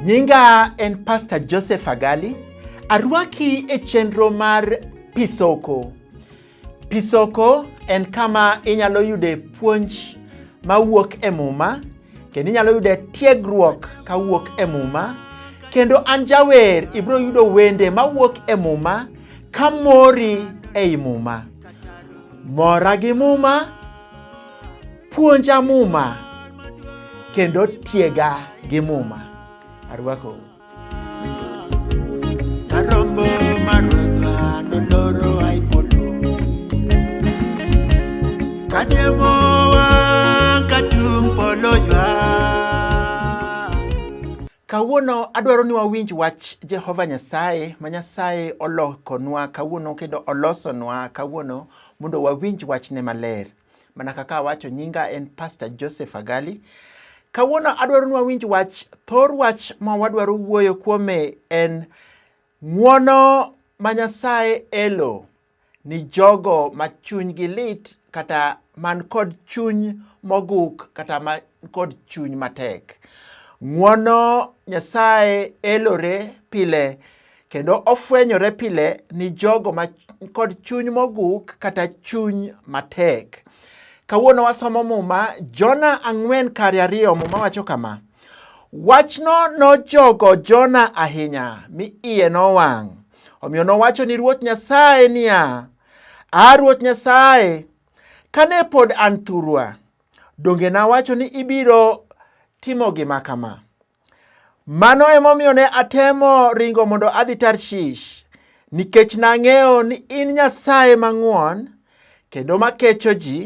Nyinga en Pastor Joseph Agali. Arwaki e chenro mar Pisoko. Pisoko en kama inyalo yude puonj mawuok e Muma kendo inyalo yude tiegruok kawuok e Muma kendo an jawer ibiro yudo wende mawuok e Muma ka mori ei Muma. Mora gi Muma, puonja Muma kendo tiega gi Muma. Arwakou. Kawuono adwaro ni wawinj wach Jehova Nyasaye ma Nyasaye olokonwa kawuono kendo olosonwa kawuono mondo wawinj wachne maler. Mana kaka awacho, nyinga en Pastor Joseph Agali. Kawuono adwaro ni wawinj wach, thor wach ma wadwaro wuoyo kuome en ng'wono ma Nyasaye elo ni jogo ma chunygi lit kata man kod chuny moguk kata man kod chuny matek. Ng'wono Nyasaye elore pile kendo ofwenyore pile ni jogo ma kod chuny moguk kata chuny matek. Kawuono wasomo Muma, Jona ang'wen kari ariyo, Muma wacho kama, Wachno nojogo Jona ahinya, mi iye nowang'. Omiyo nowacho ni Ruoth Nyasaye niya, A Ruoth Nyasaye, kane pod an thurwa, donge nawacho ni ibiro timo gima kama? Mano emomiyo ne atemo ringo mondo adhi Tarshish, nikech nang'eyo ni in Nyasaye mang'won kendo makecho ji,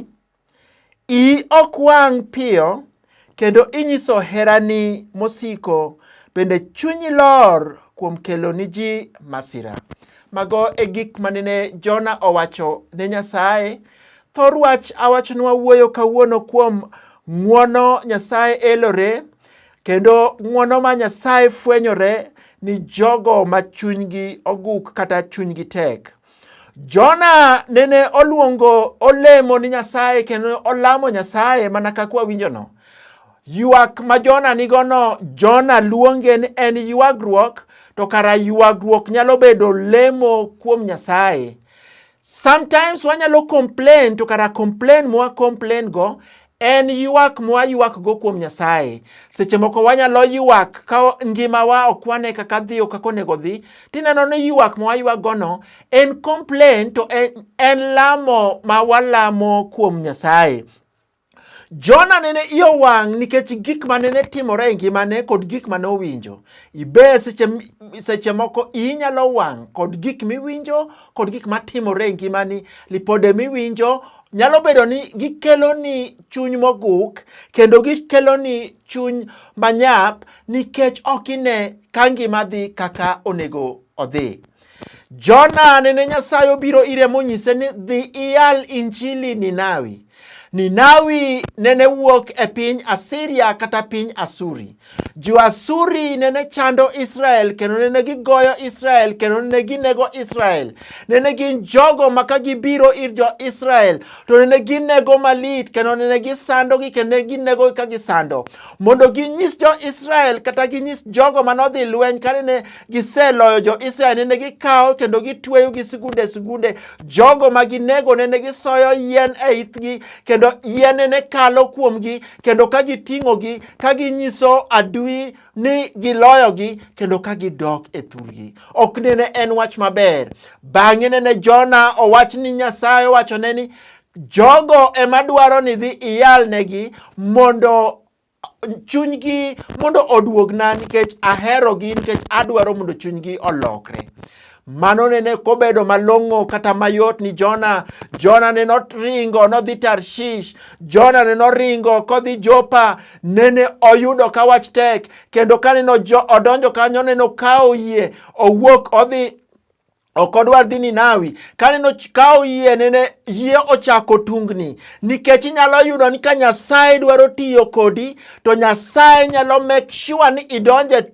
iyi ok wang' piyo kendo inyiso herani mosiko, bende chunyi lor kuom kelo ni ji masira. Mago e gik manene Jona owacho ne Nyasaye. Thor wach awachonwa wuoyo kawuono kuom ng'wono Nyasaye elore. Kendo ng'wono ma Nyasaye fwenyore ni jogo ma chunygi oguk kata chunygi tek. Jona nene oluongo olemo ni Nyasaye kendo olamo Nyasaye mana kaka wawinjono. Ywak ma Jona nigono, Jona luonge ni en ywagruok, to kara ywagruok nyalo bedo lemo kuom Nyasaye. Sometimes wanyalo complain to kara complain mwa complain go en ywak mwa ywak go kuom Nyasaye. Seche moko wanyalo ywak ka ngimawa ok wane kaka dhi o kaka onego dhi, tineno ni ywak mwa ywak gono en complain to en, en lamo ma walamo kuom Nyasaye. Jona nene iyo wang' nikech gik ma nene timore e ngimane kod gik ma nowinjo. Ibe seche, seche moko iyi nyalo wang' kod gik miwinjo kod gik ma timore e ngimani. Lipode miwinjo nyalo bedo ni gikeloni chuny moguk kendo gikeloni chuny manyap nikech ok ine ka ngima dhi kaka onego odhi. Jona nene Nyasaye obiro ire monyise ni dhi iyal injili Ninawi. Ninawi nene wuok e piny Asiria kata piny Asuri. Jo-Asuri nene chando Israel kendo nene gigoyo Israel kendo nene ginego Israel. Nene gin jogo ma ka gibiro ir jo-Israel to nene ginego malit kendo nene gisandogi kendo nene ginego ka gisando. Mondo ginyis jo-Israel kata ginyis jogo manodhi lweny ka nene giseloyo jo-Israel nene gikawo kendo gitweyo gi sigunde sigunde. Jogo ma ginego nene gisoyo yien e ithgi kendo yien nene kalo kuomgi kendo ka giting'ogi ka ginyiso adui ni giloyogi kendo ka gidok e thurgi. Ok nene en wach maber. Bang'e nene Jona owach ni Nyasaye owachone ni jogo ema dwaro ni dhi iyalnegi mondo chunygi mondo oduogna nikech aherogi nikech adwaro mondo chunygi olokre mano nene kobedo malong'o kata mayot ni jona jona ne noringo nodhi tarshish jona ne noringo kodhi jopa nene oyudo ka wach tek kendo ka neno odonjo kanyo neno kawo yie owuok odhi ok odwar dhi Ninawi kaneno ka oyie nene yie ochako tungni nikech inyalo yudo ni ka Nyasaye dwaro tiyo kodi to Nyasaye nyalo make sure ni idonje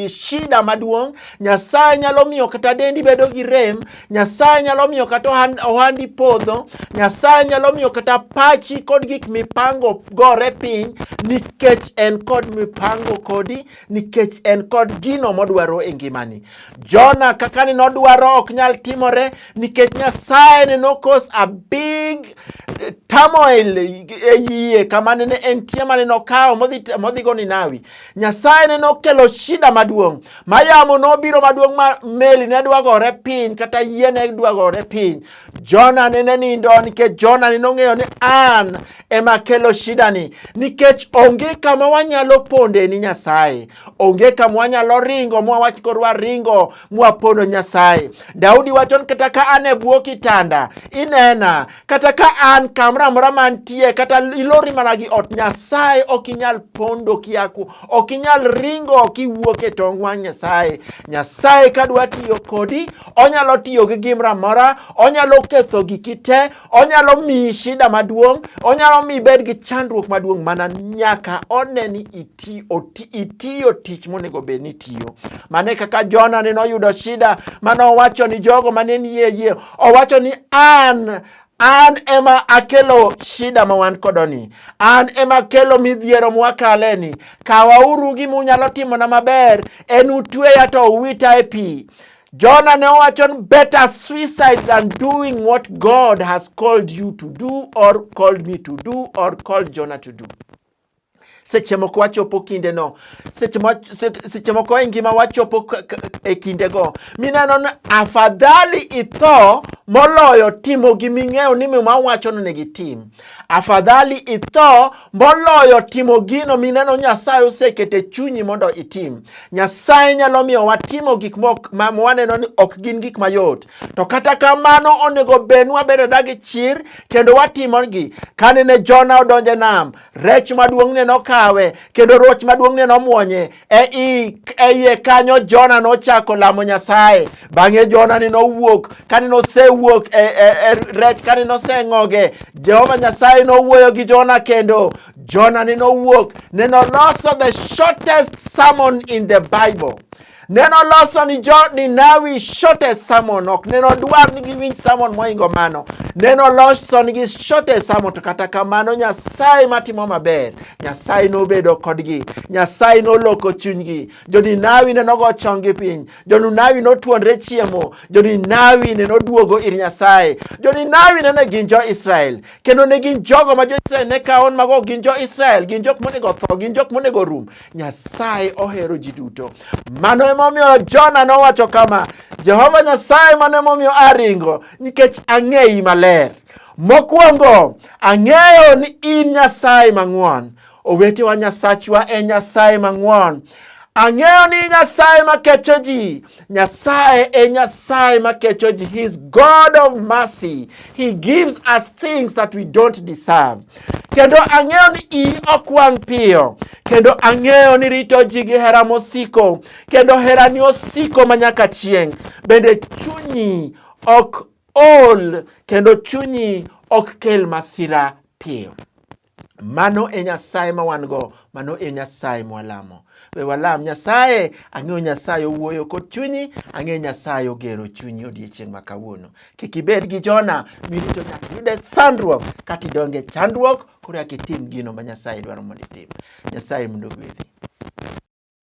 shida maduong' nyasaye nyalo miyo kata dendi bedo gi rem nyasaye nyalo miyo kata ohandi podho nyasaye nyalo miyo kata pachi kod gik mipango gore piny nikech en kod mipango kodi nikech en kod gino modwaro e ngimani. Jona kaka ni nodwaro ok nyal timore nikech Nyasaye ne nokos a big turmoil e yie kama nene entie mane nokawo modhigo Ninawi. Nyasaye ne nokelo shida maduong' ma yamo nobiro maduong' ma meli ne dwagore piny kata yie ne dwagore piny Jona nene nindo nikech Jona nene ong'eyo ni an ema kelo shidani nikech onge kama wanyalo ponde ni Nyasaye, onge kama wanyalo ringo mwawach kod waringo mwapondo Nyasaye. Daudi wacho ni kata ka an e bwo kitanda inena, kata ka an kamoro amora mantie, kata ilori mana gi ot Nyasaye ok inyal pondo kiaku, ok inyal ringo kiwuok e tong wang' Nyasaye. Nyasaye ka dwa tiyo kodi onyalo tiyo gi gimra mora onyalo ketho giki te onyalo miyi shida maduong' onyalo miyi bed gi chandruok maduong' mana nyaka one ni iti, oti, itiyo tich monego bed ni itiyo mane kaka jona ne noyudo shida mane owacho ni jogo mane ni yie yie owacho ni an an ema akelo shida ma wan kodoni an ema akelo midhiero mwakaleni kawauru gima unyalo timona maber en utweya to uwita e pi Jona ne owacho ni better suicide than doing what God has called you to do or called me to do or called Jona to do. Seche moko wachopo kinde no, seche moko e ngima wachopo e kinde go, mineno ni afadhali itho moloyo timo gi ming'eyo ni mima wacho ni gitim. Afadhali itho moloyo timo gino mineno Nyasaye oseketo e chunyi mondo itim. Nyasaye nyalo miyo watimo gik ma waneno ni ok gin gik mayot, to kata kamano onego bedni wabedo dagi chir kendo watimogi. Kane ne Jona odonje nam, rech maduong'ne nokawe kendo roch maduong'ne nomwonye. E, i, e iye kanyo Jona nochako lamo Nyasaye. Bang'e Jona ni nowuok, kane nosewuok e, e, e rech, kane noseng'oge, Jehova Nyasaye nowuoyo gi Jona kendo. Jona ni nowuok, ne noloso the shortest sermon in the Bible. Ne noloso ni jo Ninawi shortest sermon, ok ne nodwar ni giwinj sermon moingo mano. Ne noloso nigi shortest sermon, to kata kamano Nyasaye matimo maber Nyasaye nobedo kodgi. Nyasaye noloko chunygi. Jo-Ninawi ne nogo chonggi piny. Jo-Ninawi notuonre chiemo. Jo-Ninawi ne noduogo ir Nyasaye. Jo-Ninawi ne ne gin jo-Israel. Kendo ne gin jogo ma jo-Israel ne kawo mago gin jo-Israel. Gin jok monego tho. Gin jok monego rum. Nyasaye ohero ji duto. Mano emomiyo Jona nowacho kama, Jehova Nyasaye mano emomiyo aringo, nikech ang'eyi maler. Mokwongo, ang'eyo ni in Nyasaye mang'won. Owetewa, Nyasachwa en Nyasaye mang'won. Ang'eyo ni Nyasaye makecho ji. Nyasaye e Nyasaye makecho ji. He is God of mercy. He gives us things that we don't deserve. Kendo ang'eyo ni iyi ok wang' piyo. Kendo ang'eyo ni rito ji gi hera mosiko. Kendo herani osiko manyaka chieng'. Bende chunyi ok ol kendo chunyi ok kel masira piyo. Mano e Nyasaye ma wan go, mano e Nyasaye mwalamo. We walam Nyasaye, ang'eyo Nyasaye owuoyo kod chunyi, ang'eyo Nyasaye ogero chunyi odiechieng' ma kawuono. Kik ibed gi Jona mirito nyaka yude sandruok kata idonge chandruok, koro yak itim gino ma Nyasaye dwaro mondo itim. Nyasaye mondo ogwedhi.